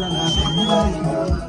Israel,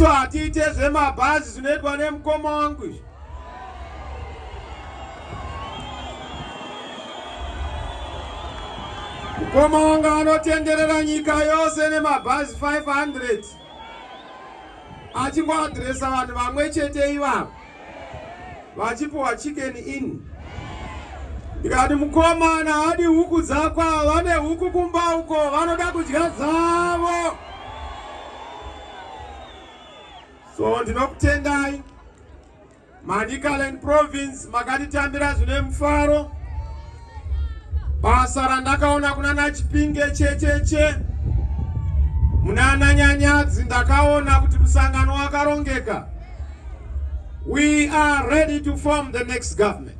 isu hatiite zvemabhazi zvinoitwa nemukoma wangu izvi mukoma wangu anotenderera nyika yose nemabhazi 500 achingoadresa vanhu vamwe chete ivavo vachipiwa chicken in ndikati mukomana hadi huku dzakwa vane huku kumba uko vanoda kudya dzavo so ndinokutendai Manicaland province makatitambira zvine mufaro. Basa randakaona kuna nachipinge checheche munana nyanyadzi ndakaona kuti musangano wakarongeka. We are ready to form the next government.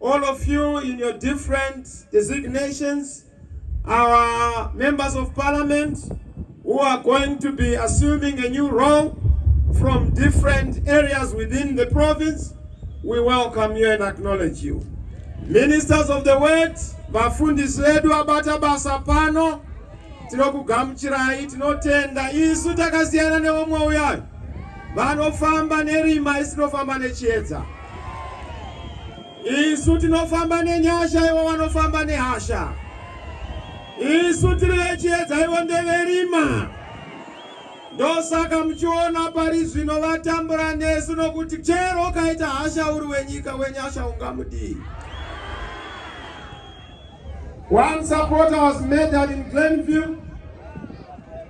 All of you in your different designations, our members of parliament who are going to be assuming a new role from different areas within the province, we welcome you and acknowledge you. Ministers of the word, vafundisi vedu abata basa pano tinokugamuchirai tinotenda isu takasiyana neomwe uyayo vanofamba nerima isinofamba nechiedza Isu tinofamba nenyasha, ivo vanofamba nehasha. Isu tiri vechiedza, ivo ndeverima. Ndosaka muchiona pari zvino vatambura nesu, nokuti chero ukaita hasha uri wenyika, wenyasha ungamudii? One supporter was murdered in Glenview.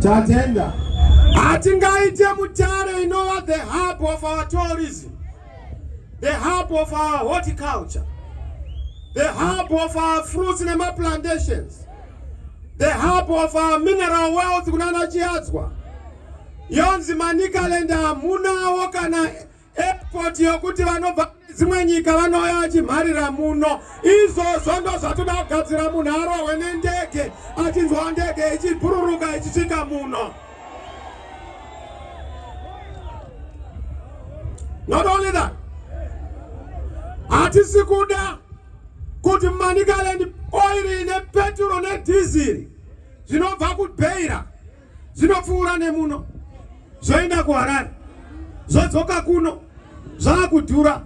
Tatenda. Hatingaite mutare inova the hub of our tourism, the hub of our horticulture, the hub of our fruits nemaplantations, the hub of our mineral wealth kunana Chiadzwa. Yonzi Manicaland hamunawo kana Airport yokuti vanobva dzimwe nyika vanouya vachimharira muno. Izvozvo ndozvatoda kugadzira munhu arohwe nendege achinzwa ndege ichibhururuka ichisvika muno. Not only that, hatisi kuda kuti Manicaland oil ine peturo nedhiziri zvinobva kubeira dzinopfuura nemuno zvoenda kuharare zvodzoka kuno zvakudhura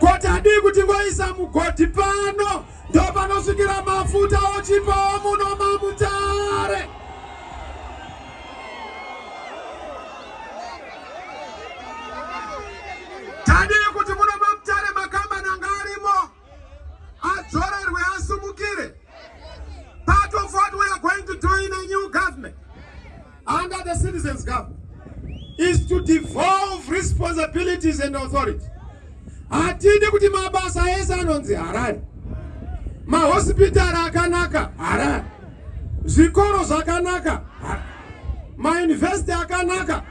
koti adii kuti ngoisa mugodhi pano ndo panosvikira mafuta ochipawo muno mamutare tadii kuti muno adzorerwe asumukire part of what we are going to do in a new government under the citizens government is to devolve responsibilities and authority hatidi kuti mabasa ese anonzi harari mahospitari akanaka harari zvikoro zvakanaka mayunivhesiti akanaka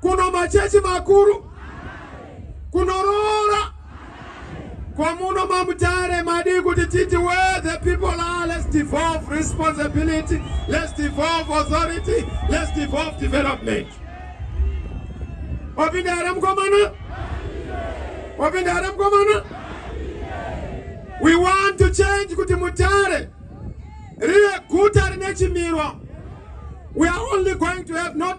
kuno machechi makuru kunoroora kwamuno mamutare madii kuti titi where the people are let's devolve responsibility let's devolve authority let's devolve development wapinda here mukomana wapinda here mukomana we want to change kuti mutare rive guta rine chimiro we are only going to have not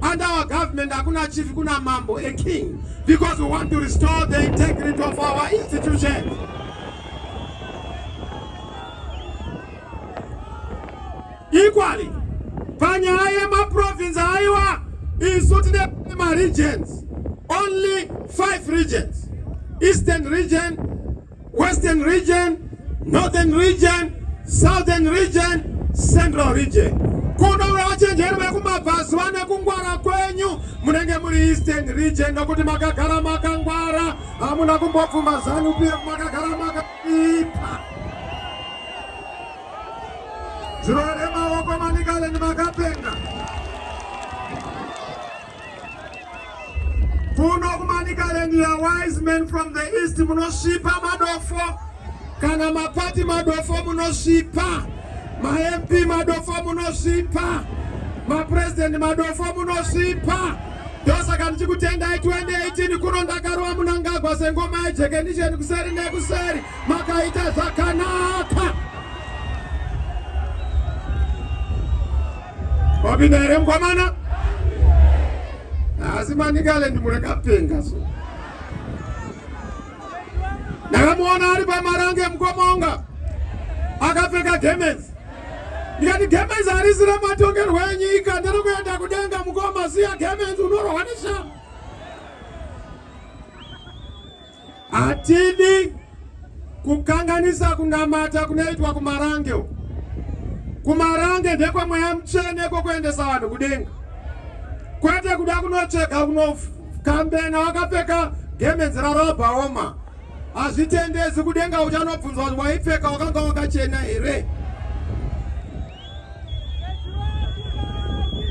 Under our government, hakuna chief, kuna mambo, a king, because we want to restore the integrity of our institutions. Equally, panyaya yemaprovince aiwa isu tine maregions, only five regions, Eastern region, Western region, Northern region, Southern region, Central region. Kuno vachenjeri vekumabvazuva nekungwara kwenyu munenge muri Eastern region nokuti makagara makangwara hamuna kumbobvuma zanu pf makagara makaipa. Zvirore maoko manikale ni makapenga. kuno kumanikaland ya wise men from the east munosvipa madofo kana mapati madofo munosvipa mamp madofo munosvipa mapurezidendi madofo munosvipa ndosaka ndichikutendai 2018 kuno ndakarova munangagwa sengoma yejekenisheni kuseri nekuseri makaita zvakanaka Wapinda here mkwamana? Asi Manicaland murakapenga so. Ndakamuona ari pamarange mkomonga akapfeka gemenzi ndikati gemenzi harisi rematongerwo enyika ndiri kuenda kudenga mukoma siya gemenzi unorohwa neshaa Hatidi kukanganisa kunamata kunoitwa kumarange uko. Kumarange ndekwe mweya mutsvene kwokuendesa vanhu kudenga, kwete kuda kunotsvega kunokambena wakapfeka gemenzi rarabhaoma. Hazvitendezi kudenga, uchanobvunzwa kuti waipfeka wakanga wakachena here?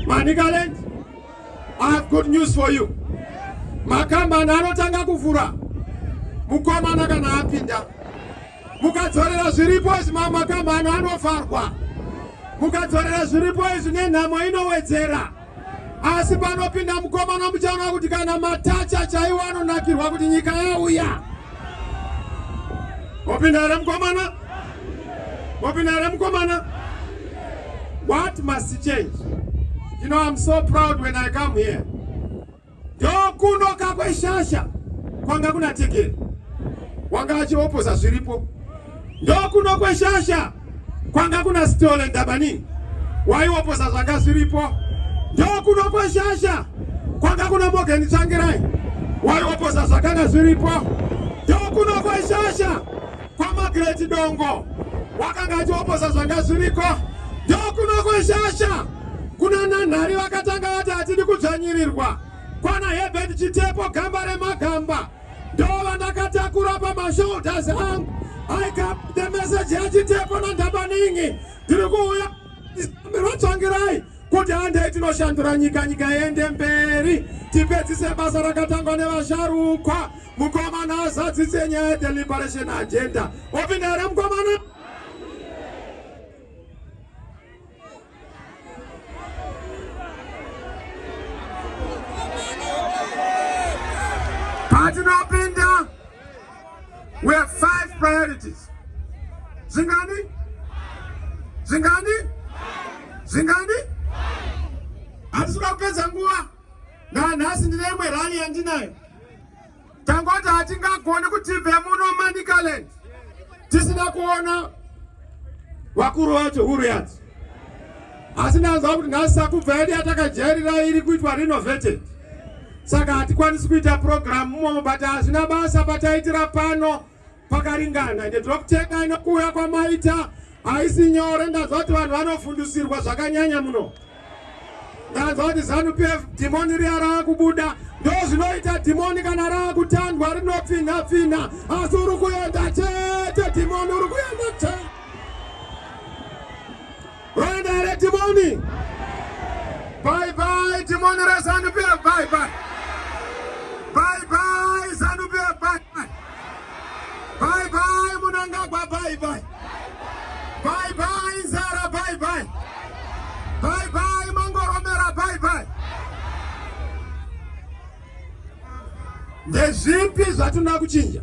Manicaland I have good news for you. Makambani anotanga kuvhura mukomana kana apinda. Mukadzorera zviripo izvi mamwe makambani anovharwa. Mukadzorera zviripo izvi nenhamo inowedzera. Asi panopinda mukomana muchaona kuti kana matacha chaiwo anonakirwa kuti nyika yauya. Opinda here mukomana? Wapinda here mukomana? What must change? You know I'm so proud when I come here. Ndokunoka kweshasha kwanga kuna Tigiri. Wanga achiopoza zviripo. Ndokuno kweshasha kwanga kuna Stole Ndabanini. Waiopoza zvanga zviripo. Ndokuno kweshasha kwanga kuna Morgan Tsvangirai. Waiopoza zvakanga zviripo. Ndokuno kweshasha KwaMagreti Dongo wakanga achioposa zvanga zviriko ndokuno kweshasha kuna nanhari vakatanga vati hatidi kudzvanyirirwa kwana Herbert Chitepo gamba remagamba ndo vandakatakura pamashoulders angu I got the message yachitepo nandhabaningi ndiri kuuya rotsvangirai kuti handei tinoshandura nyika nyika yende mberi tipedzise basa rakatangwa nevasharukwa mukomana azadzise nyaya yedeliberation agenda opinda here mukomana We have five priorities. Zingani? Zingani? Zingani? Hatisuka kupedza nguva. Nanhasi ndine imwe rally yandinayo. Tangoti hatingagoni kuti tibve muno Manicaland tisina kuona vakuru vacho huru yadzo. asi ndanzwa kuti nhasi sakubva yedu yatakajairira iri kuitwa renovated saka hatikwanisi kuita purogiramu mumomo but hazvina basa pataitira pano pakaringana ende tiri kutenda inokuuya kwamaita haisi nyore ndanzwa kuti vanhu vanofundisirwa zvakanyanya muno ndanzwa kuti zanu p f dhimoni riya rava kubuda ndo zvinoita dhimoni kana rava kutandwa rinopfinha pfinha asi uri kuenda chete dhimoni uri kuenda chete Rwanda re Timoni. Bye bye Timoni re Zanu PF bye bye. Bye bye Zanu PF bye bye. Bye bye Munangagwa bye bye. Bye bye Zara bye bye. Bye bye Mangoromera bye bye. Ndezvipi zvatinoda kuchinja?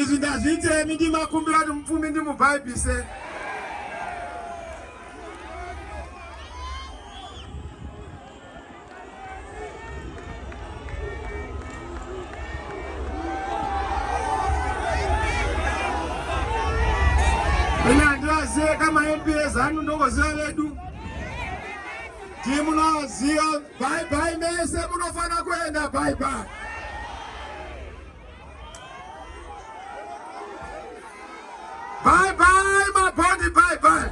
Izvi ndazviitemi ndimakumbira kuti mupfumi ndimubhaibhise. Ina ndivazive kama MPS anu ndokoziva vedu. Timunoziva bye bye mese munofanira kuenda bye bye. Bye bye my body bye bye.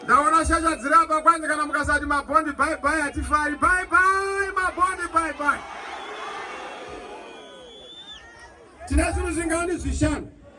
Ndaona shasha dziri apa kwanzi kana mukasati mabondi bye bye hatifari bye bye mabondi bye bye. Tine zvinhu zvingani zvishanu.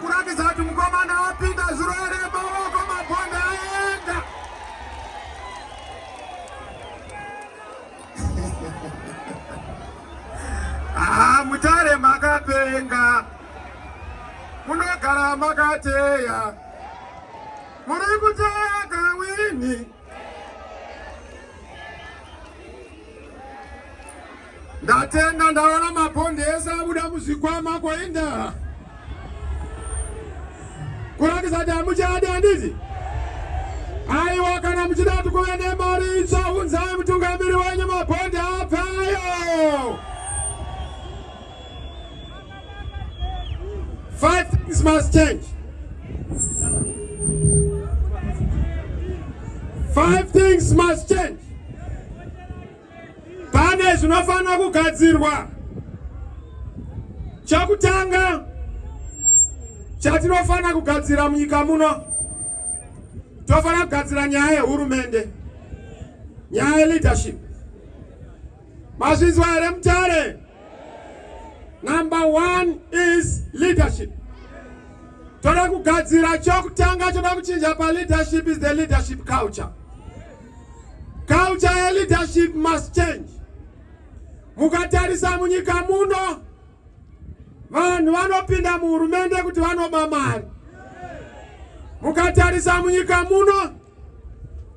kuratidza kuti mukomana wapinda zuro ere maoko mabhonda aenda haa mutare makapenga munogara makateya muri kuteya kawini Ndatenga ndaona mabhondi ese abuda muzvikwama koenda kurakidza kuti hamuchadi handiti aiwa kana muchida kuti kuve nemari itsva unzai mutungamiri wenyu mabhondi apfayo Five things must change. Five things must change. Pane zvinofanira kugadzirwa. Chakutanga chatinofanira kugadzira munyika muno tofanira kugadzira nyaya yehurumende, nyaya yeleadership Mazvinzwa here Mutare? Number one is leadership. Toda kugadzira chokutanga choda kuchinja pa leadership is the leadership culture. Culture ya leadership must change. Mukatarisa munyika muno vanhu vanopinda muhurumende kuti vanoba mari. Mukatarisa munyika muno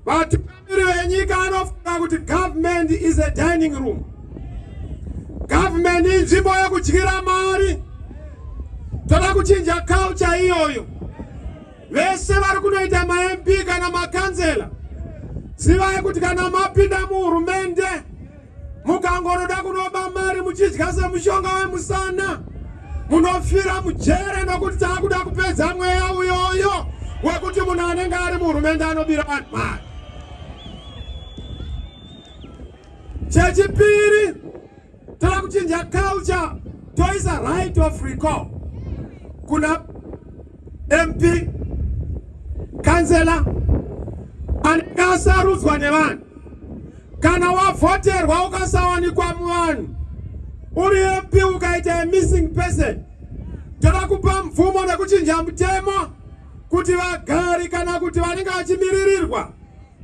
Vatungamiri venyika vanofunga kuti government is a dining room. Government inzvimbo yekudyira mari. Toda kuchinja culture iyoyo. Vese vari kunoita maMP kana makanzela zivai kuti kana mapinda muhurumende Mukangoroda kunoba mari muchidya semushonga wemusana munofira mujere nokuti taakuda kupedza mweya uyoyo wekuti munhu anenge ari muhurumende anobira vanhu mari. Chechipiri, tava kuchinja culture toisa right of recall kuna MP kansela anenge asarudzwa nevanhu Kana wavhoterwa ukasawanikwa muvanhu uri MP ukaita a missing person, toda kupa mvumo nekuchinja mutemo kuti vagari kana kuti vanenge vachimiririrwa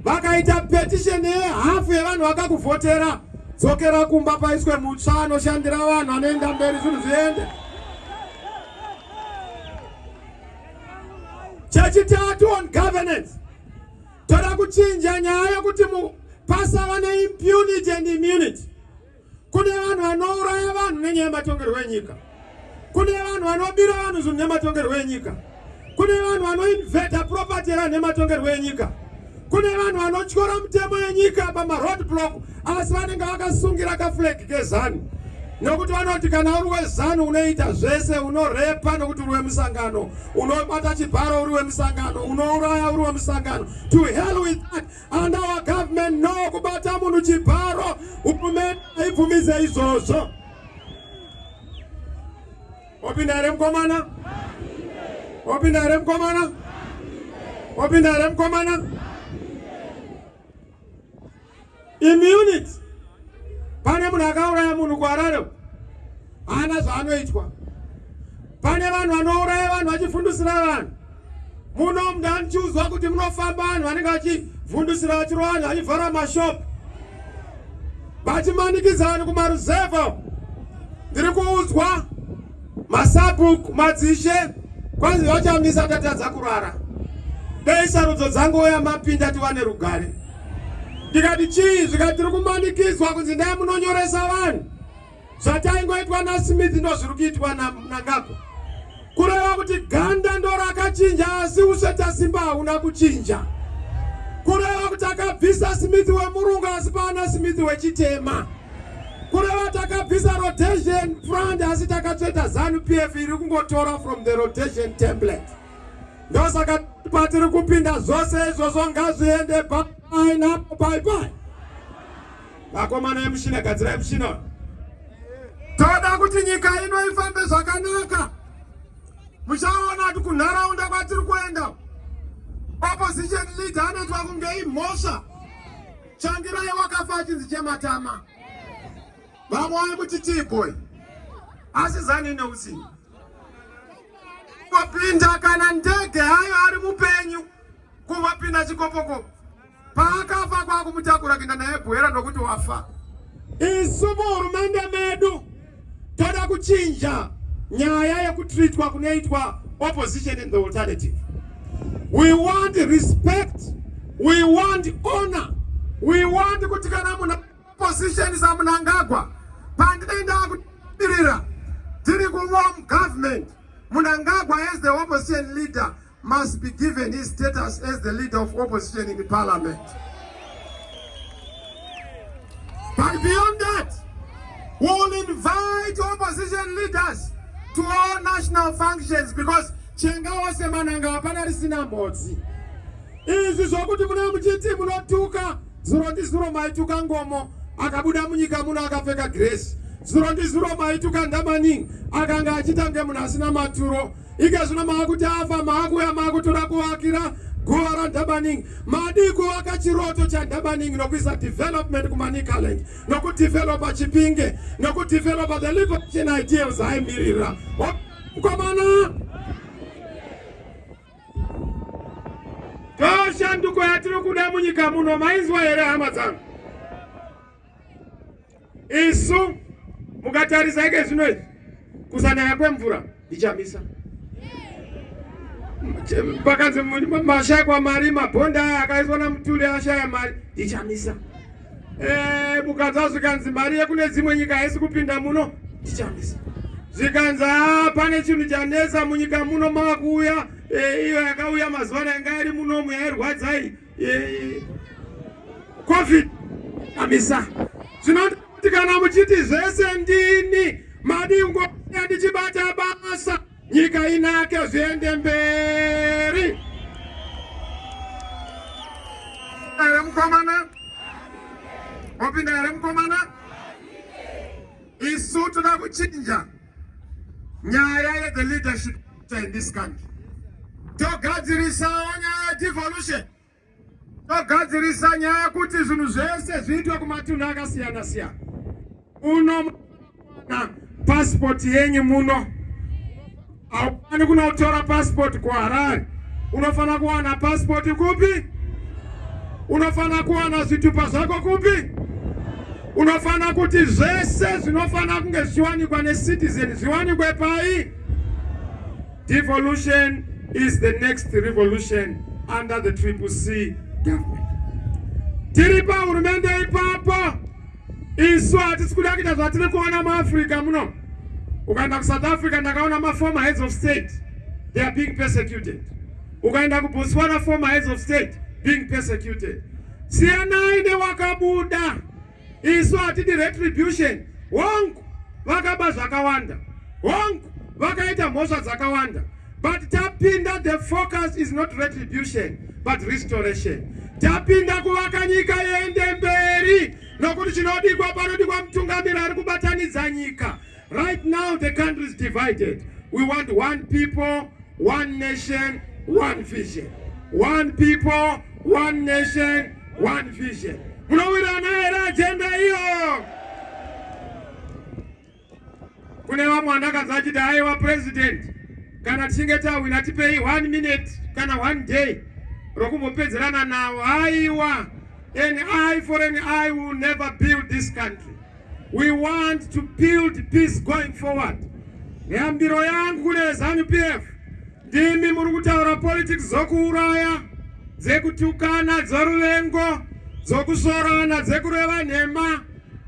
vakaita petition yehafu yevanhu vakakuvhotera dzokera kumba paiswe mutsva anoshandira vanhu anoenda mberi zvinhu zviende. Chechitatu on governance Toda kuchinja nyaya yokuti pasava neimpunity and immunity. Kune vanhu vanouraya vanhu nenyaya yematongerwo enyika. Kune vanhu vanobira vanhu zvinhu nematongerwo enyika. Kune vanhu vanoinveta property yevanhu nematongerwo enyika. Kune vanhu vanotyora mutemo yenyika pamaroad block. asi vanenge vakasungira kafulegi kezanu nokuti vanoti kana uri wezanu unoita zvese unorepa nokuti uri wemusangano unobata chibharo uri wemusangano unouraya uri wemusangano to hell with that and our government no kubata munhu chibharo hurumende haibvumize izvozvo wapinda here mukomana wapinda here mukomana wapinda here mukomana immunity pane munhu akauraya munhu kuharare haana zvaanoitwa pane vanhu vanouraya vanhu vachifundisira vanhu muno mnhu anichiudzwa kuti munofamba vanhu vanenge vachifundisira vachiro vanhu vachivhara mashop vachimanikidza vanhu kumaruzevha ndiri kuudzwa Masabhuku madzishe kwanzi vachamisa tatadza kurara. Dei sarudzo dzangouya mapinda tiwane rugare. Ndikati chii zvikati tiri kumanikidzwa kunzi ndai munonyoresa vanhu. Zvataingoitwa naSmith ndozviri kuitwa naNangagwa. Kureva kuti ganda ndorakachinja asi usvetasimba hauna kuchinja. Kureva kuti akabvisa Smith wemurungu asi paana Smith wechitema. kureva takabvisa rotation front asi takatsveta zanu pf iri kungotora from the rotation template ndosaka patiri kupinda zvose izvozvo ngazviende painapo paipai vakomana emushina gadzirai mushina toda kuti nyika ino ifambe zvakanaka muchaona kuti kunharaunda kwatiri kuenda opposition leader anoitwa kunge imhosva Changirai wakafa achinzi chematama vamwe vaimuti tiiboi asi zani neusiku kupinda kana ndege hayo ari mupenyu kuvapinda chikopokopo paakafa kwakumutakura kuinda naye bwera nokuti wafa isu muhurumende medu Toda kuchinja nyaya yekutreatwa kunoitwa opposition and the alternative. We want respect, we want honor, we want kuti kana muna opposition saMnangagwa pandinoenda kudirira tiri kuvom government Mnangagwa as the opposition leader must be given his status as the leader of opposition in the parliament. But beyond that, we will invite opposition leaders to all national functions because chenga wose mananga hapana risina mbodzi izvi zvokuti mune muchiti munotuka zuro ndi zuro maituka ngomo akabuda munyika muno akapfeka gresi zuro ndi zuro maituka ndamaning akanga achita nge munhu asina maturo ika zvino maakuti afa maakuya maakutoda kuvakira guva randabaning madii kuvaka chiroto chandabaning nokuisa development kumanicaland nokudevelopa chipinge nokudevelopa the liberation ideals aimirira mkomana toshanduko yatiri kuda munyika muno mainzwa here hama dzangu Isu mukatarisa ike zvino izvi kusanaya kwemvura ndichamisa pakanzi mashaya kwamari mabhonda aya akaiswa namutuli ashaya mari ndichamisa eh, mukanzwa zvikanzi mari yekune dzimwe nyika haisi kupinda muno ndichamisa zvikanzi ah, pane chinhu chanetsa munyika muno mava kuuya eh, iyo yakauya mazuva ana yanga iri munomu yairwadzai Eh, covid amisa zvinoti kana muchiti zvese ndini madingo ndichibata basa nyika inake zviende mberi ere mukomana wapinda ere mukomana isu toda kuchinja nyaya ye the leadership in this country togadzirisawo nyaya yedevolution togadzirisa nyaya yekuti zvinhu zvese zviitwe kumatunhu akasiyana siyana uno na pasipoti yenyu muno haufani kunotora pasipoti kuharare unofanira kuwana pasipoti kupi unofanira kuwana zvitupa zvako kupi unofanira kuti zvese zvinofanira kunge zvichiwanikwa necitizen zviwanikwe pai Devolution is the next revolution under the triple C government. Tiri pa hurumende ipapo isu hatisi kuda kuita zvatiri kuona muafrica muno ukaenda kusouth africa ndakaona maformer heads of state they are being persecuted ukaenda kubotswana former heads of state being persecuted siyanai newakabuda Isu hatidi retribution. Hongu vakaba zvakawanda. Hongu vakaita mhosva dzakawanda. But tapinda the focus is not retribution but restoration. Tapinda kuvaka nyika yende mberi nokuti chinodikwa panodikwa mutungamiri ari kubatanidza nyika. Right now the country is divided. We want one people, one nation, one vision. One people, one nation, one vision. Munowirana here agenda iyo? Kune vamwe vandakanzwa achiti aiwa president kana tichinge tawina tipei one minute kana one day rokumbopedzerana nawo. Aiwa, an eye for an eye will never build this country. We want to build peace going forward. Yambiro yangu kune Zanu PF ndimi muri kutaura politics dzokuuraya, dzekutukana, dzoruvengo, dzokusorana, dzekureva nhema.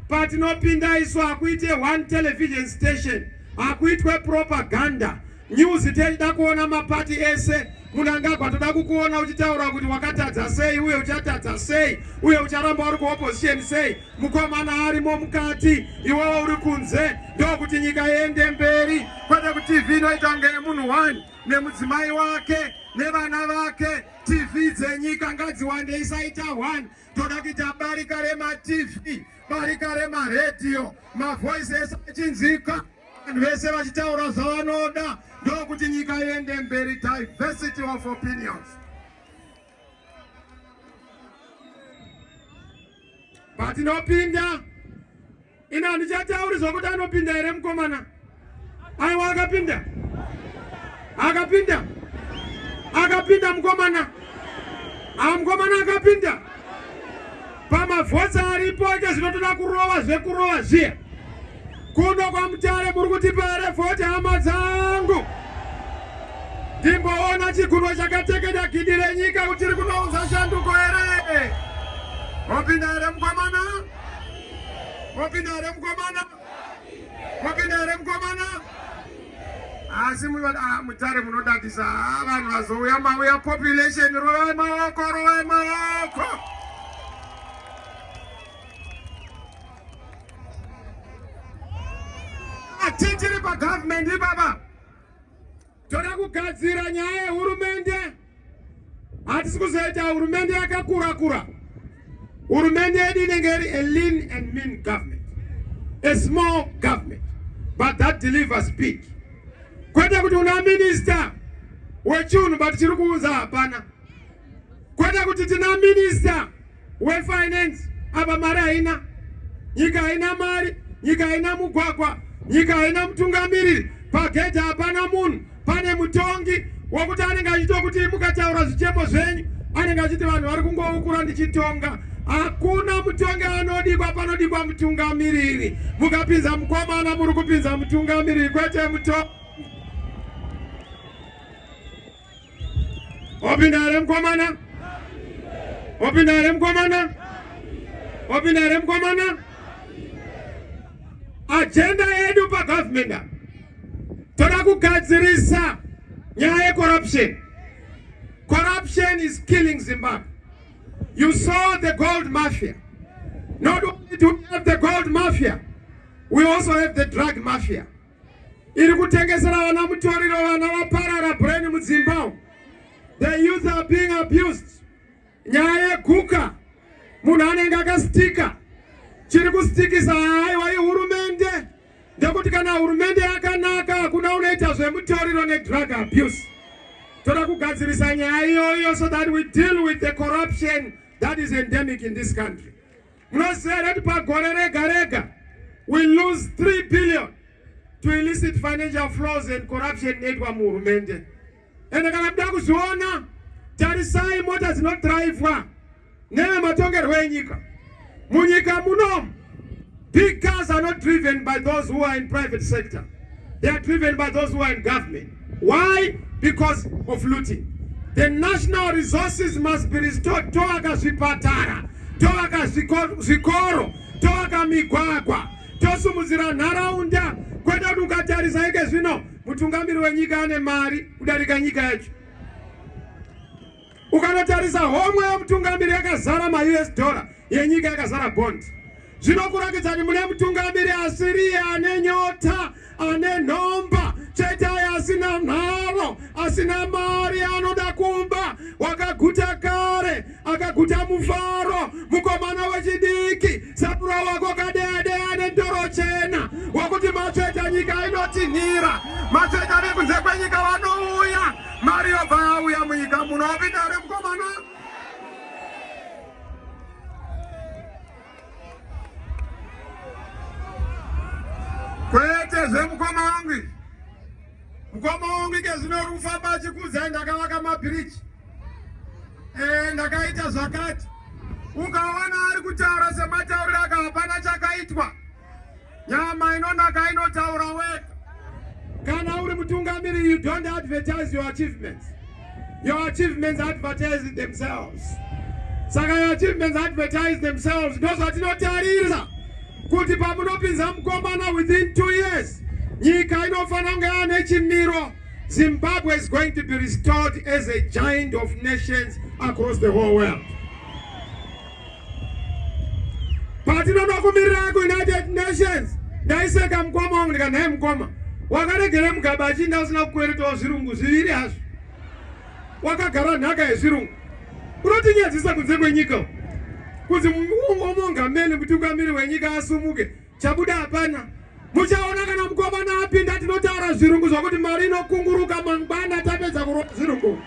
Patinopinda isu hakuite one television station, hakuitwe propaganda. News tichida kuona mapati ese. Munangagwa toda kukuona uchitaura kuti wakatadza sei uye uchatadza sei uye ucharamba uri kuopposition sei. Mukomana arimo mukati, iwewe uri kunze. Ndokuti nyika iende mberi, kwete kuti TV inoita kunge yemunhu one nemudzimai wake nevana vake. TV dzenyika ngadziwande, isaita one. Toda kuita barika remaTV, barika remaredhiyo, mavoice ese achinzika. Vanhu vese vachitaura zvavanoda ndokuti nyika iende mberi, diversity of opinions. But ndopinda ino handichatauri zvokuti anopinda here mukomana aiwa akapinda akapinda akapinda mukomana aa mukomana akapinda pamavhotsa aripo ake zvinotoda kurova zvekurova zviya Kuno kwaMutare muri kutipa here vhoti hama dzangu? Ndimboona chigumwe chakatekeda gidi renyika kuti tiri kunounza shanduko here? Mopinda here mukomana? Mopinda here mukomana? Mopinda here mukomana? Asi ah, Mutare munodadisa ah, vanhu vazouya mauya population rovai maoko rovai maoko Tichiri pagovernment ipapa toda kugadzira nyaya yehurumende. Hatisi kuzoita hurumende yakakura kura. Hurumende yedu inenge iri a lean and mean government, a small government but that delivers big. Kwete kuti una minister wechiunhu but chiri kuunza hapana. kwete kuti tina minista wefinance apa mari haina nyika haina mari nyika haina mugwagwa nyika haina mutungamiriri pagedhi hapana munhu pane mutongi wokuti anenge achitokuti mukataura zvichemo zvenyu anenge achiti vanhu vari kungoukura ndichitonga hakuna mutongi anodikwa panodikwa mutungamiriri mukapinza mukomana muri kupinza mutungamiriri kwete mutongi Wapinda here mkomana? Wapinda here mkomana? Wapinda here mkomana? Agenda yedu pa government toda kugadzirisa nyaya ye corruption. Corruption is killing Zimbabwe. You saw the gold mafia. Not only do we have the gold mafia, we also have the drug mafia. iri kutengesera vana mutoriro vana vaparara brain mudzimba the youth are being abused nyaya yeguka munhu anenge akasitika chiri kusitikisa haiwa ihurumende ndekuti kana hurumende yakanaka hakuna unoita zvemutoriro nedrug abuse toda kugadzirisa nyaya iyoyo so that we deal with the corruption that is endemic in this country Munoziva here kuti pagore rega rega we lose 3 billion to illicit financial flows and corruption inoitwa muhurumende ende kana kuda kuzviona tarisai mota dzinodhiraivhwa nevematongerwo enyika munyika muno big cars are not driven by those who are in private sector they are driven by those who are in government Why? Because of looting. The national resources must be restored. Toaka zvipatara, toaka zvikoro, toaka migwagwa, tosumudzira nharaunda. Kwete kuti ukatarisa ike zvino mutungamiri wenyika ane mari kudarika nyika yacho. Ukanotarisa homwe yemutungamiri yakazara maUS dollar yenyika yakazara bond zvinokuratidza kuti mune mutungamiri asiriye ane nyota ane nhomba chete aye asina nharo asina mari anoda kumba wakaguta kare akaguta mufaro mukomana wechidiki sapura wako kadede ane ndoro chena wakuti matsveta nyika inotinhira matsveta vekunze kwenyika vanouya Mari yobva yauya munyika muno wapinda here mukomana? Kwete zvemukoma wangu. Mukoma wangu ike zvino rufamba achikudza ndakavaka mabhiriji. Eh ndakaita zvakati. Ukaona ari kutaura sematauriro aka hapana chakaitwa. Nyama inonaka inotaura wega. Kana uri mutungamiri, you don't advertise your achievements. Your achievements advertise themselves. Saka your achievements advertise themselves. Ndozvatinotarira kuti pamunopinza mukomana within two years, nyika inofanira kunge yaane chimiro. Zimbabwe is going to be restored as a giant of nations across the whole world. Patinoda kumirira kuUnited Nations, ndaiseka mukoma wangu ndikati, nhai mukoma, wakaregera mugaba achinda usina kukweretawo zvirungu zviviri hazvo, wakagara nhaka yezvirungu, unotinyadzisa kunze kwenyika kunzi umongameli kuti ukamiri wenyika asumuke Chabuda hapana. Muchaona kana mukomana apinda tinotaura zvirungu zvokuti mari inokunguruka mangwana tapedza kurova zvirungu.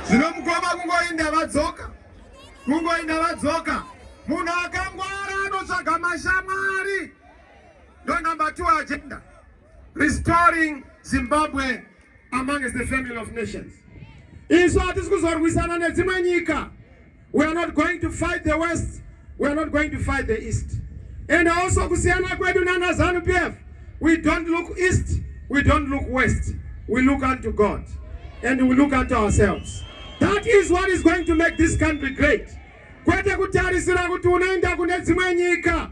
Zvino mukoma kungoinda vadzoka. Kungoinda vadzoka. Munhu akangwara anotsvaga mashamwari. ndo number two agenda restoring Zimbabwe amongst the family of nations. Isu hatisi kuzorwisana nedzimwe nyika. We are not going to fight the west, we are not going to fight the east. And also kusiyana kwedu nana Zanu PF, we don't look east, we don't look west. We look unto God and we look unto ourselves. That is what is going to make this country great. Kwete kutarisira kuti unoenda kune dzimwe nyika.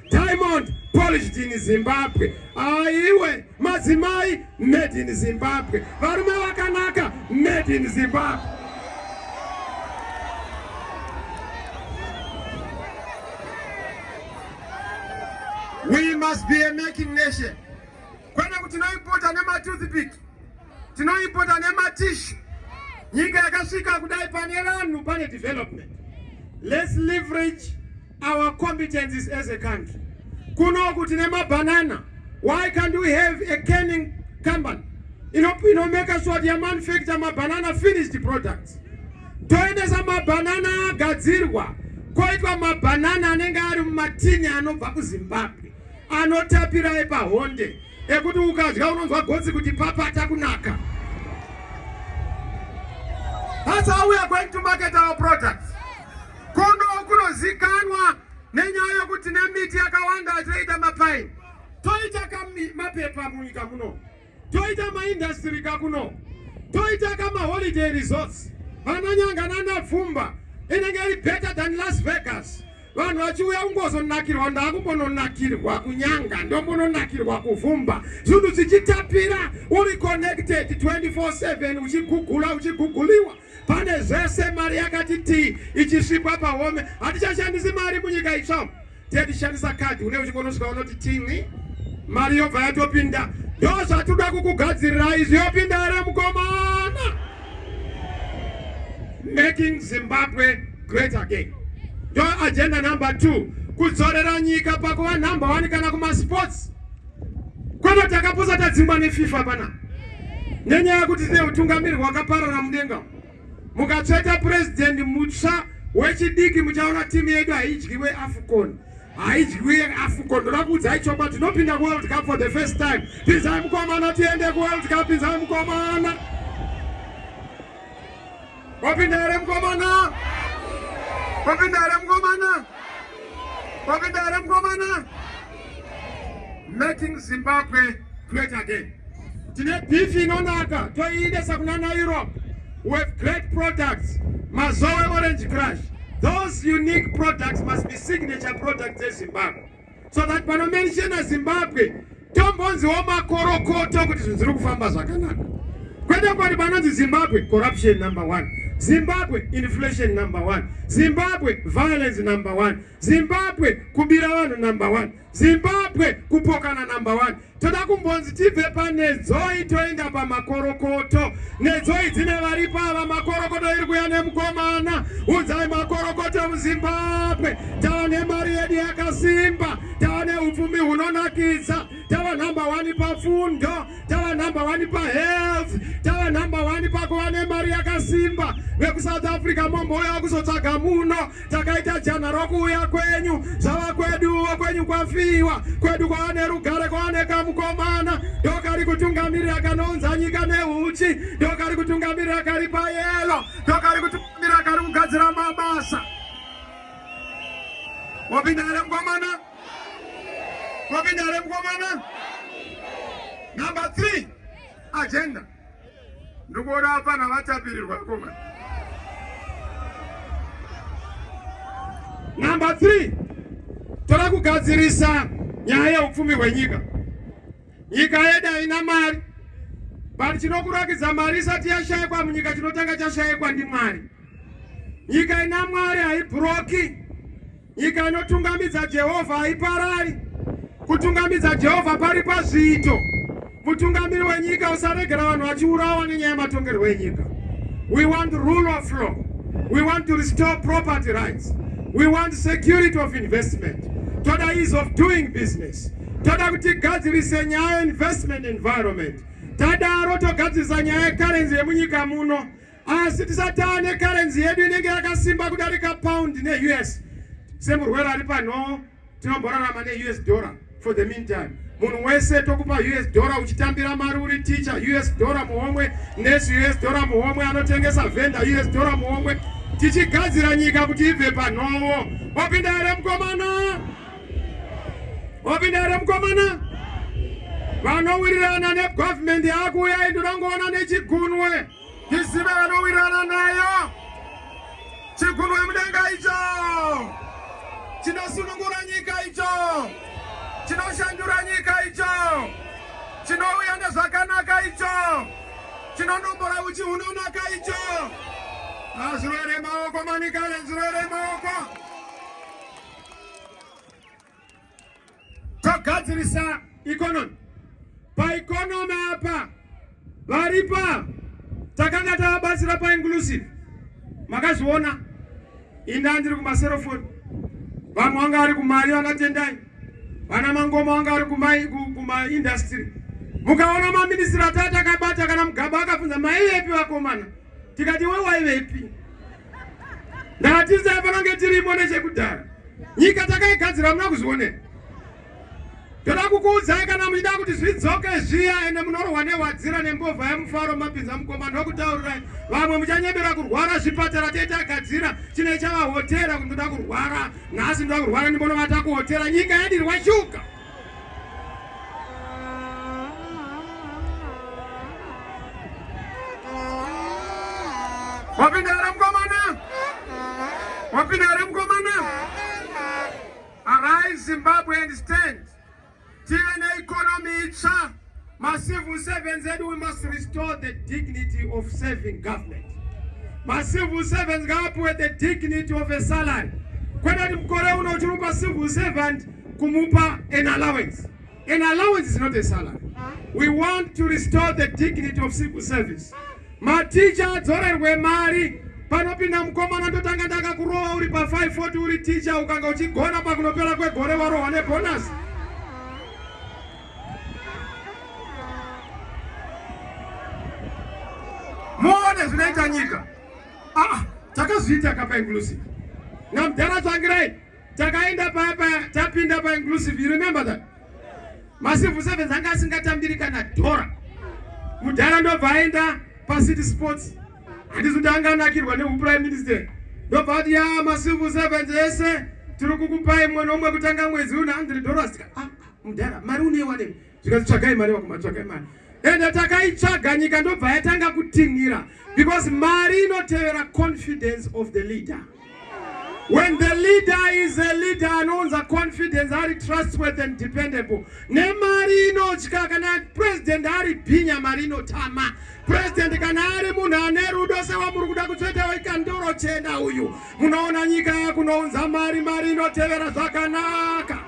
Diamond polished in Zimbabwe. Aiwe madzimai made in Zimbabwe. Varume vakanaka made in Zimbabwe. We must be a making nation. Kwene kuti naipota nematoothpick tinoimpota nematishu nyika yakasvika kudai pane vanhu pane development let's leverage our competencies as a country kunoku tine mabanana why can't we have a canning company inomeka sure kuti yamanufacture mabanana finished products toendesa mabanana agadzirwa koitwa mabanana anenge ari mumatini anobva kuzimbabwe anotapira epahonde ekuti ukadya unonzwa gotsi kuti papata kunaka. That's how we are going to market our products. Kondo kunozikanwa nenyaya yekuti nemiti yakawanda toita mapaini toita mapepa munyika muno toita maindastiri kakuno toita kamaholiday resorts vananyanga nanapfumba inenge iri better than las vegas vanhu vachiuya kungozonakirwa ndakumbononakirwa kunyanga ndombononakirwa kuvhumba zvinhu zvichitapira uri connected 24/7 uchigugula uchiguguliwa pane zvese mari yakati tii ichisvikwa pahome hatichashandisi mari munyika itsva tetishandisa kadhi une uchikonosvika unoti tini mari yobva yatopinda ndo zvatoda kukugadzirirai zviyopinda here mukomana making Zimbabwe great again. Ndo agenda number 2 kudzorera nyika pakuva number 1 kana kumasports kwete takapusa tadzingwa nefifa pana nenyaya yekuti tine utungamiri hwakaparara mudenga mukatsveta president mutsva wechidiki muchaona timu yedu haidyiwe afcon haidyiwe afcon ndoda kuudzai chokwadi tinopinda kuworld cup for the first time pinzai mukomana tiende kuworld cup pinzai mukomana wapinda here mukomana wapinda here mukomana wapinda here mukomana making zimbabwe great again tine beef inonaka toiendesa kuna naeurope with great products mazowe orange crush those unique products must be signature products ezimbabwe so that panomenshena zimbabwe tombonziwo makorokoto kuti zvinhu zviri kufamba zvakanaka kwete kwati panonzi zimbabwe corruption number one zimbabwe inflation number one zimbabwe violence number one zimbabwe kubira vanhu number one Zimbabwe kupokana number one. Toda kumbonzi tibve panedzoi toenda pamakorokoto. Nedzoi dzine varipo ava makorokoto iri kuya nemukomana. Udzai makorokoto muZimbabwe. Tava nemari yedu yakasimba. Tava neupfumi hunonakidza. Tava number one pafundo. Tava number one pahealth. Tava number one pakuva nemari yakasimba. VekuSouth Africa mombouya kuzotsvaga muno. takaita jana rokuuya kwenyu zvava kweduwo kwenyu kwafiwa kwedu kwava nerugare kwava nekamukomana ndokari kutungamirira kanounza nyika neuchi ndokari kutungamirira kari payelo ndokari kutungamirira kari kugadzira mabasa wapinda here mukomana wapinda here mukomana number three agenda ndikuona apana vatapirirwa koma number 3 tora kugadzirisa nyaya yeupfumi hwenyika nyika yedu haina mari but chinokurakidza mari isati yashayikwa munyika chinotanga chashayikwa ndimwari nyika ina mwari haibhuroki Nyika inotungamidza Jehovha haiparari. Kutungamidza Jehovha pari pazviito. Mutungamiri wenyika usaregera vanhu vachiurawa nenyaya yematongerwo enyika. We want rule of law. We want to restore property rights. We want security of investment. Toda ease of doing business. Toda kuti gadzirise nyaya investment environment. Tadaro togadzirisa nyaya yecurency yemunyika muno. asi tisati ane karenzi yedu inenge yakasimba kudarika pound neus semurwere ari panhoo tinomborarama neus dollar for the meantime munhu wese tokupa us dollar uchitambira mari uri teacher us dollar muhomwe nurse us dollar muhomwe anotengesa vendor us dollar muhomwe tichigadzira nyika kuti ibve panhowo wapinda here mukomana wapinda here mukomana vanowirirana negovernment yakuuya indinongoona nechigunwe Isive vanowirana nayo chigundwe mudenga icho chinosunungura nyika icho chinoshandura nyika icho chinouya nezvakanaka icho chinonombora uchi hunonaka icho azvirwere maoko manika nezvirwere maoko togadzirisa economy. Paeconomy apa varipa takanga tavabatsira painclusive, makazviona inda ndiri kumaserofoni, vamwe vanga vari kumari vanatendai, vana mangoma vanga vari kumaindastry kuma mukaona maministiri atatu akabata kana mugaba akabvunza maivepi vakomana tikati iwe waivepi Ndatiza panange tirimo nechekudhara. Nyika takaigadzira muna kuzvionera. Toda kukuudzai kana muchida kuti zvidzoke zviya ende munorohwa nehwadzira nembovha yemufaro mapinza mukoma ndokutaurirai vamwe muchanyebera kurwara zvipatara tetagadzira chine chavahotera kuti ndoda kurwara nhasi ndoda kurwara ndimbonovata kuhotera nyika yadirwa shuga Wapinda here mkomana? Wapinda here mkomana? Arise Zimbabwe and stand. Tive neikonomi itsva. Macivil servants said we must restore the dignity of serving government. Macivil servants ngaapiwe the dignity of a salary. Kwete kuti mukore uno uchirumba civil servant kumupa an allowance. An allowance is not a salary. We want to restore the dignity of civil service. Maticha adzorerwe mari panopinda mukomana ndotanga ndakakurowa uri pa 540 uri ticha ukanga uchigona pakunopera kwegore warohwa nebhonasi muone zvinoita nyika ah, takazviita kapa inclusive namudhara tsvangirai takaenda papa tapinda pa inclusive you remember that macivil servants anga asingatambiri kana dhora mudhara ndobva aenda pacity sports handisi kuti anga anakirwa neuprime minister ndobva ati ya macivil servants ese tiri kukupai mwe nomwe kutanga mwedzi une 100 dollars ah. Mudhara, mari uneiwanepi? Zvikanzi tsvagai mari vakoma, tsvagai mari. Ende takaitsvaga nyika ndobva yatanga kutinhira because mari inotevera confidence of the leader. When the leader is a leader anounza confidence ari trustworthy and dependable. Nemari inotya kana president ari bhinya mari inotama. President kana ari munhu ane rudo sewamuri kuda kutsveta wekandoro chena uyu. Munoona nyika yakunounza mari mari inotevera zvakanaka.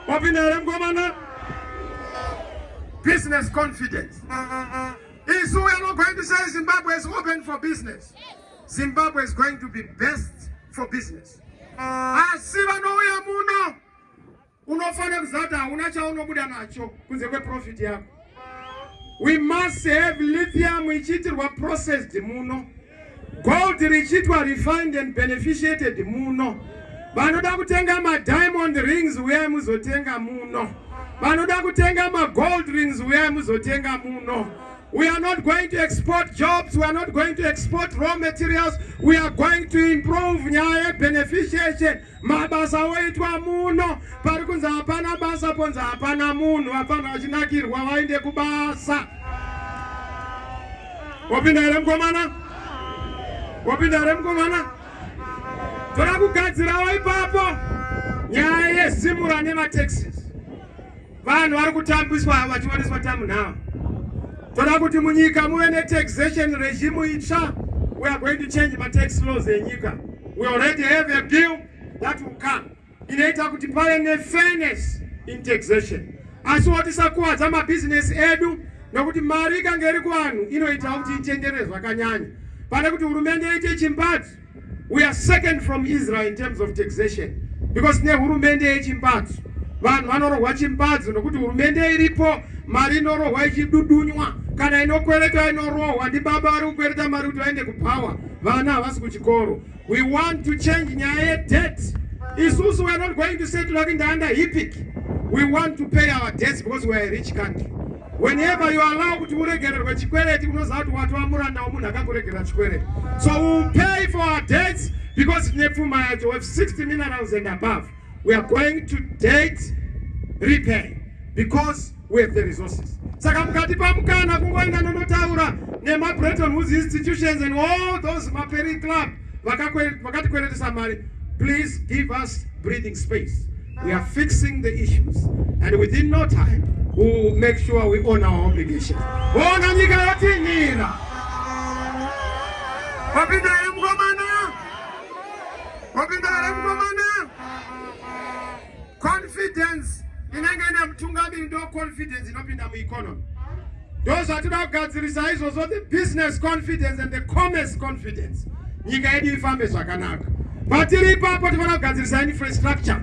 Wapinda here mkomana? Business confidence. Isu we are not going to say Zimbabwe is open for business. Zimbabwe is going to be best for business. Asi vanouya muno unofanira kuzata hauna chaunobuda nacho kunze kweprofit yako. We must have lithium ichiitirwa processed muno. Gold richiitwa refined and beneficiated muno. Vanoda kutenga ma diamond rings uya muzotenga muno. Vanoda kutenga ma gold rings uya muzotenga muno. We are not going to export jobs. We are not going to export raw materials. We are going to improve nyaya beneficiation. mabasa oitwa muno pari kunzi hapana basa ponzi hapana munhu vafanira vachinakirwa vainde kubasa wapinda here mukomana wapinda here mukomana toda kugadzirawo ipapo nyaya yesimura nemateksi Vanhu vari kutambiswa ava vachioneswa tamu now. Toda kuti munyika muve ne taxation regime itsva. We are going to change ma tax laws enyika. We already have a bill that will come. Inoita kuti pave ne fairness in taxation. Asi wotisakuvadza mabizinesi edu nokuti mari ikange iri kuvanhu inoita kuti itenderere zvakanyanya pane kuti hurumende iite chimbadzo we are second from Israel in terms of taxation because ne hurumende yechimbadzo vanhu vanorohwa chimbadzo nokuti hurumende iripo mari inorohwa ichidudunywa kana inokwereta inorohwa ndi baba vari kukwereta mari kuti vaende kupower vana havasi kuchikoro we want to change nyaya yedebt isusu we are not going to settle kuti ndaanda hipic we want to pay our debts because we are a rich country Whenever you allow kuti uregererwe chikwereti unoziva kuti watova muranda wemunhu akakuregerera chikwereti. So we will pay for our debts because tine pfuma yacho with 60 minerals and above. We are going to debt repay because we have the resources. Saka mukati pamukana kungoenda nonotaura nema Bretton Woods institutions and all those maperi club vakatikweretesa mari please give us breathing space we are fixing the issues and within no time we will make sure we own our obligation ona nyika yotinira wapinda here mukomana wapinda here mukomana Confidence inenge ine mutungamiri ndo confidence inopinda mueconomy. Ndo zvatinoda kugadzirisa izvozvo the business confidence and the commerce confidence. Nyika yedu ifambe zvakanaka. Patiri ipapo tifana kugadzirisa infrastructure.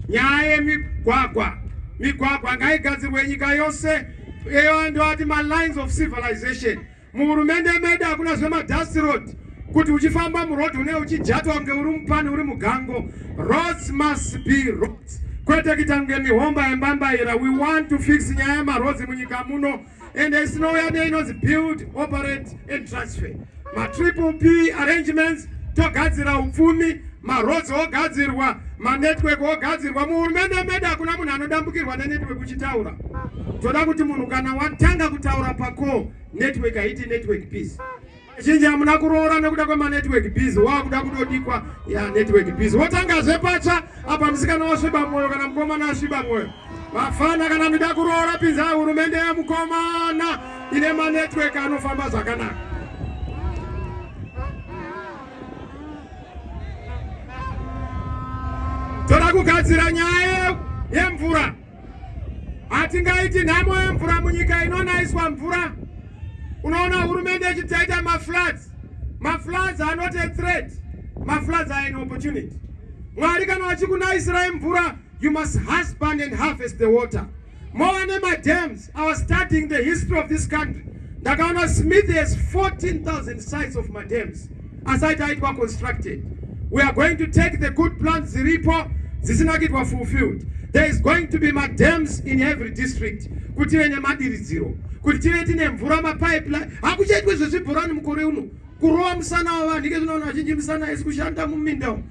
Nyaya yemigwagwa. Migwagwa ngaigadzirwe nyika yose. Eyo ndo ati ma lines of civilization. Muhurumende medu hakuna zvema dust road kuti uchifamba muroad une uchijatwa kunge uri mupani uri mugango. Roads must be roads. Kwete kuita kunge mihomba yembambaira. We want to fix nyaya yemaroads munyika muno and isinouya neinonzi build, operate and transfer. Ma triple P arrangements togadzira upfumi maroads ogadzirwa manetwork ogadzirwa muhurumende medu hakuna munhu anodambukirwa nenetwork uchitaura toda kuti munhu kana watanga kutaura pako network haiti network peace zhinji hamuna kuroora nekuda kwemanetwork biz wakuda kudodikwa ya network biz wotangazve patsva apa musikana wasviba mwoyo kana mukomana asviba mwoyo vafana kana mida kuroora pinza hurumende yemukomana ine manetwork anofamba zvakanaka Toda kugadzira nyaya yemvura. Hatingaiti nhamo yemvura munyika inonaiswa mvura. Unoona hurumende ichitaita mafloods. Mafloods are not a threat. Mafloods are an opportunity. Mwari kana vachikunaisirai mvura, you must husband and harvest the water. mova nemadams our studying the history of this country ndakaona smith has 14000 sites of madams asaita aitwa constructed we are going to take the good plans dziripo dzisina kuitwa fulfilled there is going to be madams in every district kuti venye madiridziro kuti tive tine mvura mapipeline hakuchaitwe zvezvibhorani mukore uno kurova musana wavanhu ike zvinoona vazhinji musana isi kushanda muminda umu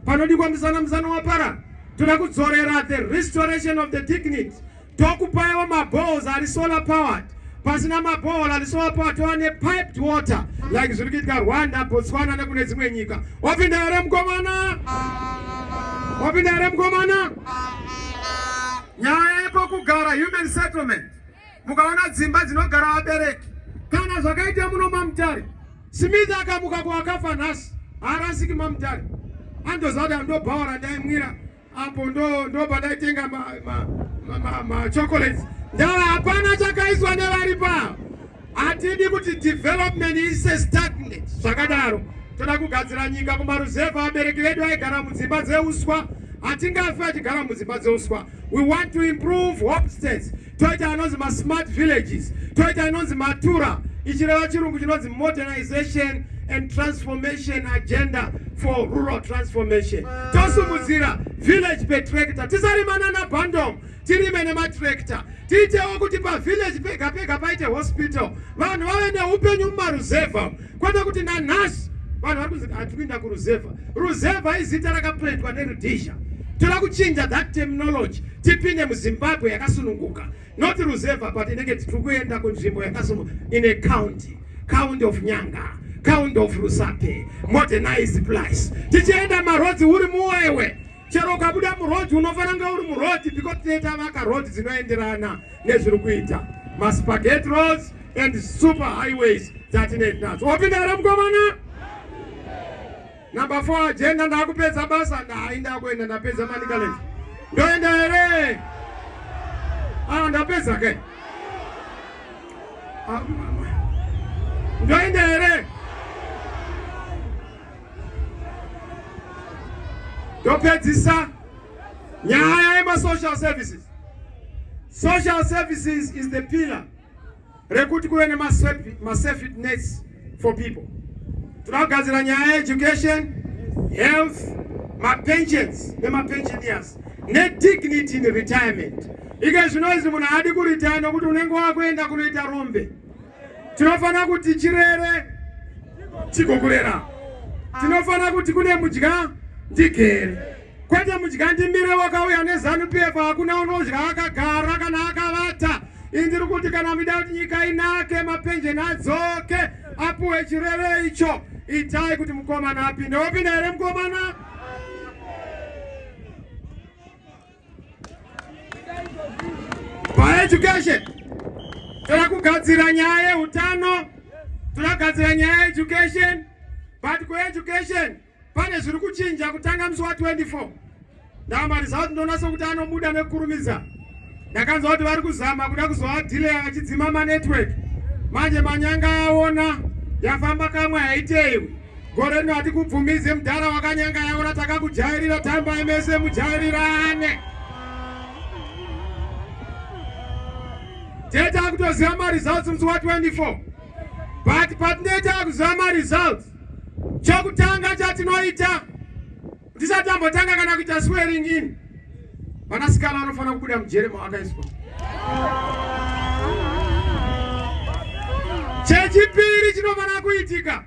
Panodikwa muzana muzana wapara toda kudzorera the restoration of the dignity tokupaiwo mabohos ari solar powered pasina mabohol ari solar powered tova nepiped water like zviri kuitika rwanda botswana nekune dzimwe nyika wapinda here mukomana wapinda here mukomana nyaya yekokugara human settlement Mukaona dzimba dzinogara vabereki kana zvakaita muno mamutare Smith akamuka kuwakafa nhasi haarasiki mamutare andozada ndobhaora ndaimwira apo ndobva ndaitenga machocolates ndava hapana chakaiswa nevari paa hatidi kuti development ise stagnant zvakadaro toda kugadzira nyika kumaruzevha abereki vedu aigara mudzimba dzeuswa hatingafi achigara mudzimba dzeuswa we want to improve home states toita anonzi masmart villages toita inonzi matura ichireva chirungu chinonzi modernization and transformation agenda for rural transformation tosumudzira village petrakta tisarimana nabandom tirime nematrakta tiitewo kuti pavillage pega pega paite hospital vanhu vave neupenyu mumaruzevha Kwete kuti nanhasi vanhu vari kunzi hatiri kuinda kuruzevha. Ruzevha izita rakapwetwa neRhodesia. Toda kuchinja that terminology tipinde muZimbabwe yakasununguka. Not ruzevha but inenge tiri kuenda kunzvimbo yakasununguka in a county, county of Nyanga, county of Rusape, modernized place. Tichienda marhodzi uri muwewe. chero ukabuda muroad unofanira kunge uri muroad because tine tavaka road dzinoenderana nezviri kuita maspagate roads and super highways dzatine tinadzo wapinda here mukomana number four agenda ndakupedza basa ndai ndakuenda ndapedza manicaland ndoenda here ah ndapedza ke ah, ndoenda here Ndopedzisa nyaya yema social services. Social services is the pillar rekuti kuve nema safety nets for people. Tunagadzira nyaya education, health, ma pensions nema pensioners ne dignity in retirement. Ike zvinoizi munhu haadi kuritaya nokuti unenge wakuenda kunoita rombe. Tinofanira kuti chirere chikokurera. Tinofanira kuti kune mudya ndigere. Kwete mudya ndimire wakauya nezanu PF hakuna unodya akagara kana akavata. Indiri kuti kana mida kuti nyika inake mapenjeni adzoke apuwe chirere icho itai kuti mukomana apinde. Wapinda here mukomana? paeducation toda kugadzira nyaya yeutano tinogadzira nyaya yeeducation but kueducation pane zviri kuchinja kutanga musi wa24 ndamariza kuti ndonasa kuti anobuda nekukurumidza ndakanzwa kuti vari kuzama kuda kuzoadhileya vachidzima manetwork manje manyanga aona yafamba kamwe haiteiwi Gore rino hatikubvumize mudhara wakanyanga yaona takakujairira tambai mese mujairirane. Tete akutoziva maresults musi wa 24 but patinoita akuziva maresults chokutanga chatinoita tisati tambotanga kana kuita swearing in vanasikana vanofanira kubuda mujere mavakaiswa chechipiri chinofanira kuitika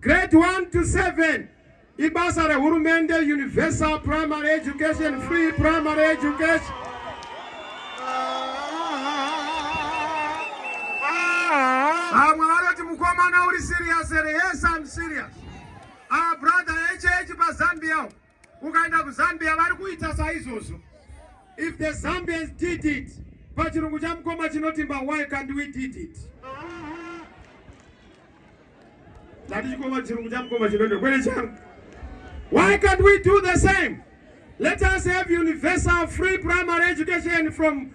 Grade 1 to 7 ibasa rehurumende universal primary education free primary education vamwe vanoti mukomana uri serious here yes I'm serious our brother hh pazambia Ukaenda kuZambia vari kuita saizvozvo. If the Zambians did it, pachirungu chamukoma chinotimba why can't we did it? Ndati chikoma chirungu chamukoma chinotimba kwene changu. Why can't we do the same? Let us have universal free primary education from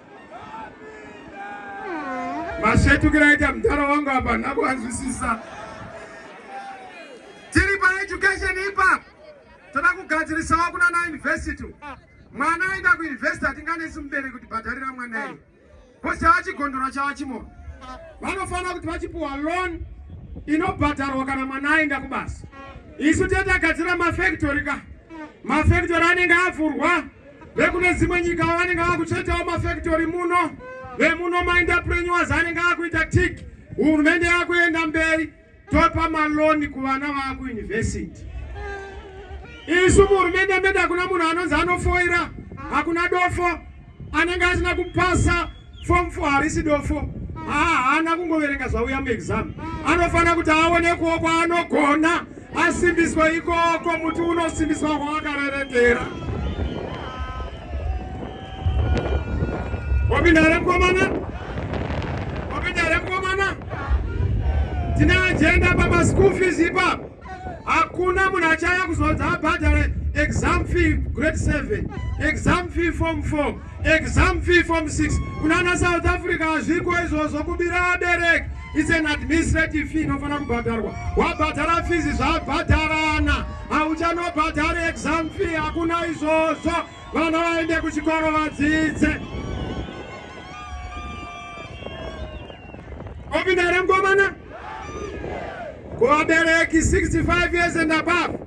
Mashetukira aita mudhara wangu apa nakuanzwisisa. Tiri pa education ipa toda kugadzirisawo kuna na university. Mwana aenda ku university atinganesi mubereki kuti bhadharira mwana iye. Kosi chawachigondora chawachimona. Vanofanira kuti vachipuwa loan inobhadharwa kana mwana aenda kubasa. Isu tete agadzira mafactory ka. Mafactory anenge avhurwa. vekune dzimwe nyika vanenge vakuchetawo mafactory muno vemuno maenterpreneurs anenge akuita tik hurumende yakuenda mberi topa maloni kuvana vakuuniversity isu muhurumende medu hakuna munhu anonzi anofoira hakuna dofo anenge asina kupasa Form 4 harisi dofo. Haana kungoverenga zvauya muexam. Anofanira kuti aone kuwo kwaanogona asimbiswe ikoko muti unosimbiswa kwawakarerekera. Wapinda here mkomana? Wapinda here mkomana? Tine agenda pama school fees ipapo. Hakuna munhu achaya kuzodza abhadhare exam fee grade 7 exam fee form 4 exam fee form 6 kunana south africa hazviko izvozvo kubira abereki it's an administrative fee inofanira kubhadharwa wabhadhara fizi zvabhadharana hauchanobhadhari exam fee hakuna izvozvo vana vaende kuchikoro vadzidze Opinda remkomana kuvabereki 65 years and above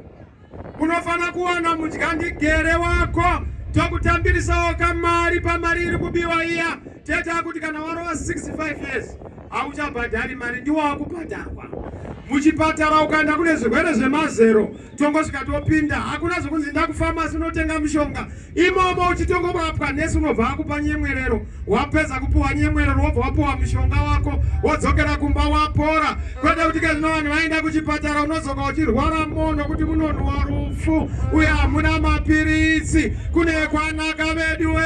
unofanira kuwana mudyandigere wako tokutambirisawo kamari pamari iri kubiwa iya tete akuti kana warova 65 years hauchabhadhari mari ndiwo wakubhadharwa muchipatara ukaenda kune zvirwere zvemazero tongosvika topinda hakuna zvekunzi ndakufamasi unotenga mushonga imomo uchitongobatwa nesi unobva wakupa nyemwerero wapedza kupuwa nyemwerero wobva wapuwa mushonga wako wodzokera kumba wapora kwete kuti kezvino vanhu vaenda kuchipatara unozoka uchirwara mono kuti munonhuwa rufu uye hamuna mapiritsi kune kwanaka vedu we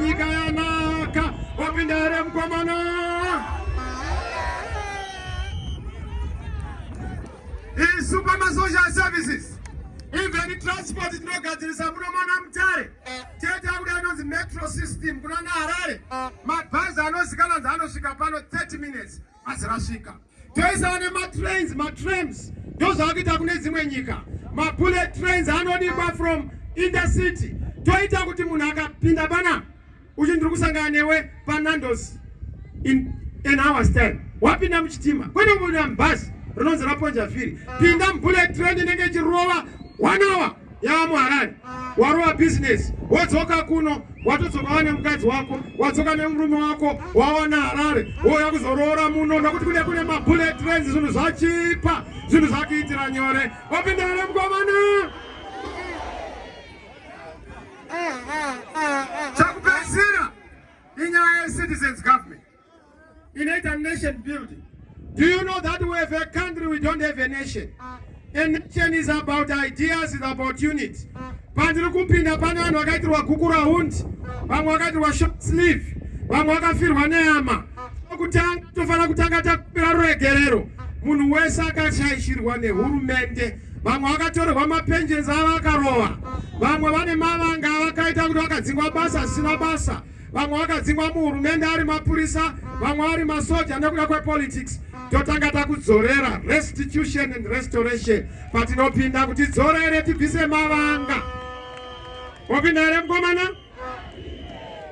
nyika yanaka wapinda here mukomana isu pamasocial services even transport tinogadzirisa muno mwana mutare chete akuda inonzi metro system kuna naharare mabhazi anozikana nzi anosvika pano 30 minutes asi rasvika toisana nematrains matrams ndozvakuita kune dzimwe nyika mabullet trains anodikwa from intercity toita kuti munhu akapinda panapa Uyu ndiri kusangana newe paNandos in an hour's time. Wapinda muchitima kwete kupinda mubhazi rinonzi raponja firi. Pinda mubullet train inenge ichirova one hour yava muharare warova business wodzoka kuno watodzoka wane mukadzi wako wadzoka nemurume wako wawana harare wouya kuzoroora muno nokuti kune kune mabullet trains zvinhu zvachipa zvinhu zvakuitira nyore wapinda here mukomana chakupedzisira inyaya yecitizens government inoita nation building do you know that we have a country we don't have a nation a nation is about ideas is about unit pandiri kupinda pane vanhu vakaitirwa guku rahundi vamwe vakaitirwa short sleeve vamwe vakafirwa neyama kutanga tofanira kutanga takupira ruregerero munhu wese akashaishirwa nehurumende vamwe vakatorerwa mapensions avo akarova vamwe vane mavanga avakaita kuti vakadzingwa basa zvisina basa vamwe vakadzingwa muhurumende ari mapurisa vamwe vari masoja nekuda kwepolitics totanga takudzorera restitution and restoration patinopinda kuti dzorere tibvise mavanga opinda here mukomana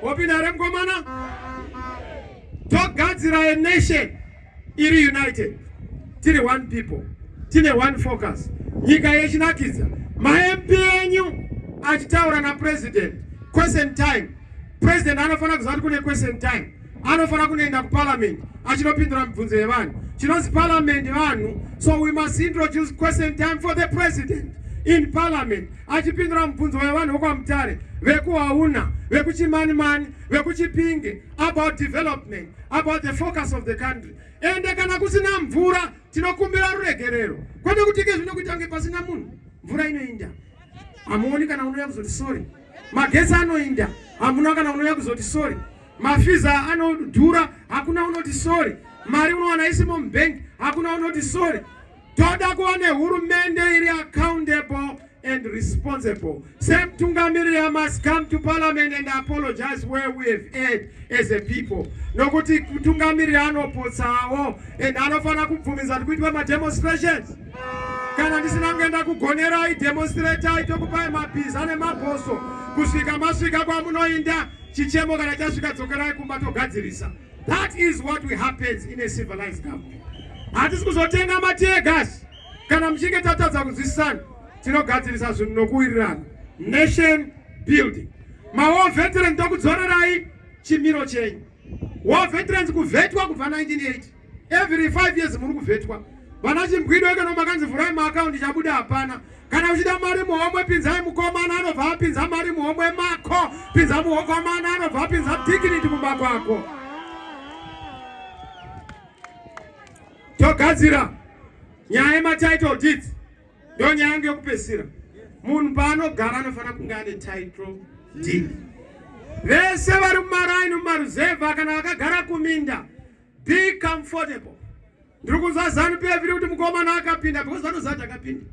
opinda here mukomana togadzira a nation iri united tiri one people tine one focus nyika yechinakidza mamp enyu achitaura napresident question time president anofanira kuziva kuti kune question time anofanira kunoenda kuparliament achinopindura mibvunzo yevanhu chinonzi parliament vanhu so we must introduce question time for the president in parliament achipindura mubvunzo wevanhu vokwamutare vekuhauna vekuchimanimani vekuchipinge about development about the focus of the country ende kana kusina mvura tinokumbira ruregerero kwete kuti ke zvino kuita kunge pasina munhu mvura inoinda hamuoni kana unouya kuzoti sorry magesi anoinda hamuna kana unouya kuzoti sorry mafiza anodhura hakuna unoti sorry mari unowana isimo mubank hakuna unoti sorry Toda kuva nehurumende iri accountable and responsible. Semutungamiriri, I must come to parliament and apologize where we have erred as a people. Nokuti mutungamiriri anopotsawo and anofanira kubvumidza kuti kuitwa mademonstrations. Kana ndisina kuenda kugonerai demonstratai tokupai mabhiza nemabhoso kusvika masvika kwamunoinda chichemo kana chasvika dzokerai kumba togadzirisa. That is what we happens in a civilized government. Hatisi kuzotenga mategas kana muchinge tatadza kunzwisisana tinogadzirisa zvinhu nokuwirirana. Nation building. Mawo veterans tokudzorerai chimiro chenyu. War veterans kuvetwa kubva 1980. Every 5 years muri kuvetwa. Vana chimbwido ekano makanzi vhurai maakaunti chabuda hapana. Kana uchida mari muhomwe pinzai mukomana anobva apinza mari muhomwe mako. Pinza mukomana anobva apinza dignity mumba kwako. Togadzira nyaya yematitle deeds ndo nyaya yangu yokupesira. Munhu paanogara anofanira kunge ane title deed. Vese vari mumaraini mumaruzevha kana vakagara kuminda Be comfortable. Ndiri kunzwa zanu pf iri kuti mukomana akapinda because vanozati akapinda.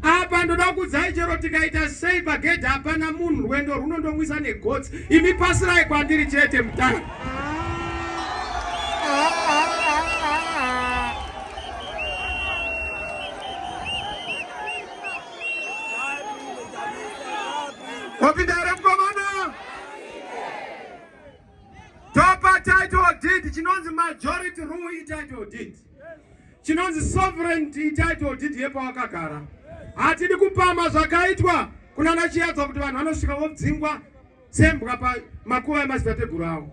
Apa ndoda kukudzai chero tikaita sei pagedhi hapana munhu rwendo rwunondomwisa negotsi. Imi pasirai kwandiri chete mutanga. Wapinda Topa title deed chinonzi majority rule ititle deed. Chinonzi sovereignty ititle deed yepawakagara. Hatidi kupama zvakaitwa kunana Chiyadza kuti vanhu vanosvika vodzingwa sembwa pamakuva emadzitateguru avo.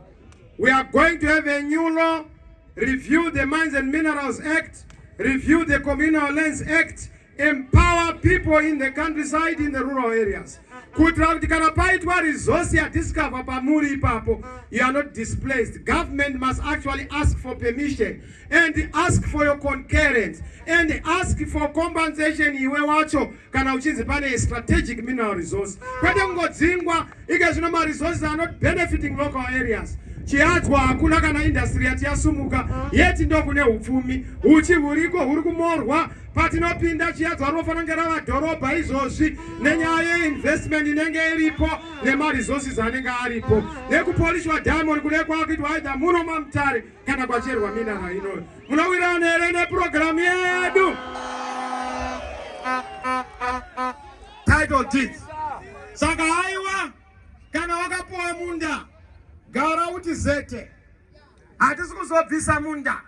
We are going to have a new law, review the Mines and Minerals Act, review the Communal Lands Act, empower people in the countryside in the rural areas kuitira kuti kana paitwa resource yadiscover pamuri ipapo you are not displaced government must actually ask for permission and ask for your concurrence and ask for compensation iwe wacho kana uchinzi pane strategic mineral resource kwete kungodzingwa Ika zvino ma resources are not benefiting local areas. Chihadzwa hakuna kana industry yati yasumuka yeti ndokune hupfumi huchi huriko huri kumorwa patinopinda Chihadzwa rinofanira kunge rava dhorobha izvozvi nenyaya yeinvestment inenge iripo nema resources anenge aripo nekupolishwa diamond kune kwakuitwa aidha muno mamutare kana kwacherwa minara inoyo munowirirana here nepurogiramu yedu title deeds saka haiwa kana wakapuwa munda gara uti zete hatisi kuzobvisa munda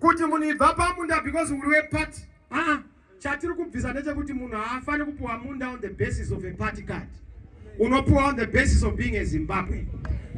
kuti munhu ibva pamunda because uri weparty aa chatiri kubvisa ndechekuti munhu haafani kupuwa munda on the basis of a party card unopiwa on the basis of being a Zimbabwe.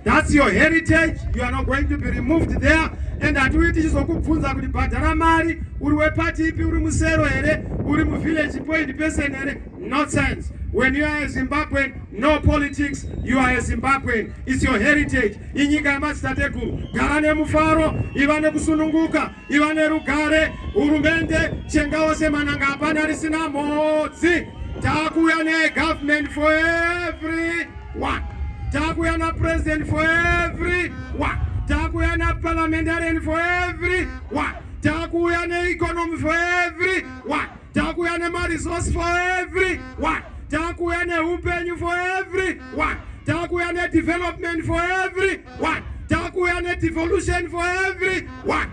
That's your heritage, you are not going to be removed there and hatiuyi tichizokubvunza kuti bhadhara mari uri wepati ipi uri musero here uri muvillage point person here nonsense when you are a zimbabwean no politics you are a zimbabwean its your heritage inyika yemadzitateguru gara nemufaro iva nekusununguka iva nerugare hurumende chengawo semananga hapana risina mhodzi takuuya negovernment for every one takuuya napresident for every one takuuya naparliamentarian for every one takuuya neeconomy for every one Takuya nemaresource for every one. Takuya neupenyu for every one. Takuya nedevelopment for every one. Takuya nedevolution for every one.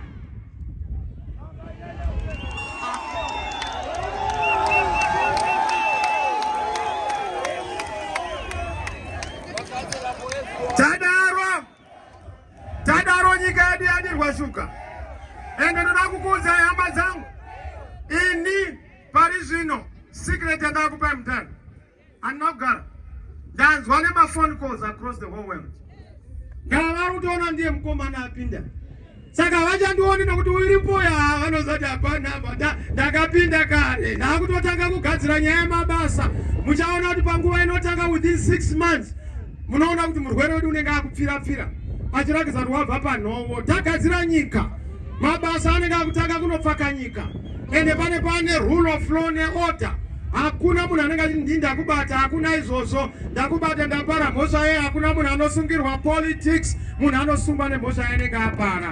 Tadaro nyika yedu yadirwa shuka. Ende ndoda kukuudza hama dzangu. Ini pari zvino secret yandakupai mutano. Handina kugara. Ndanzwa nema phone calls across the whole world. Ndava kutoona ndiye mukomana apinda. saka vachandioni nokuti uri mbuya vanozoti hapana ndakapinda kare ndakutotanga kugadzira nyaya yemabasa muchaona kuti panguva inotanga within six months munoona kuti murwere wedu unenge akupfira pfira achirakidza kuti wabva panhovo tagadzira nyika mabasa anenge akutanga kunopfaka nyika ende pane pane rule of law neorder hakuna munhu anenge achiti ndindakubata hakuna izvozvo ndakubata ndapara mhosva yeye hakuna munhu anosungirwa politics munhu anosungwa nemhosva yainenge apara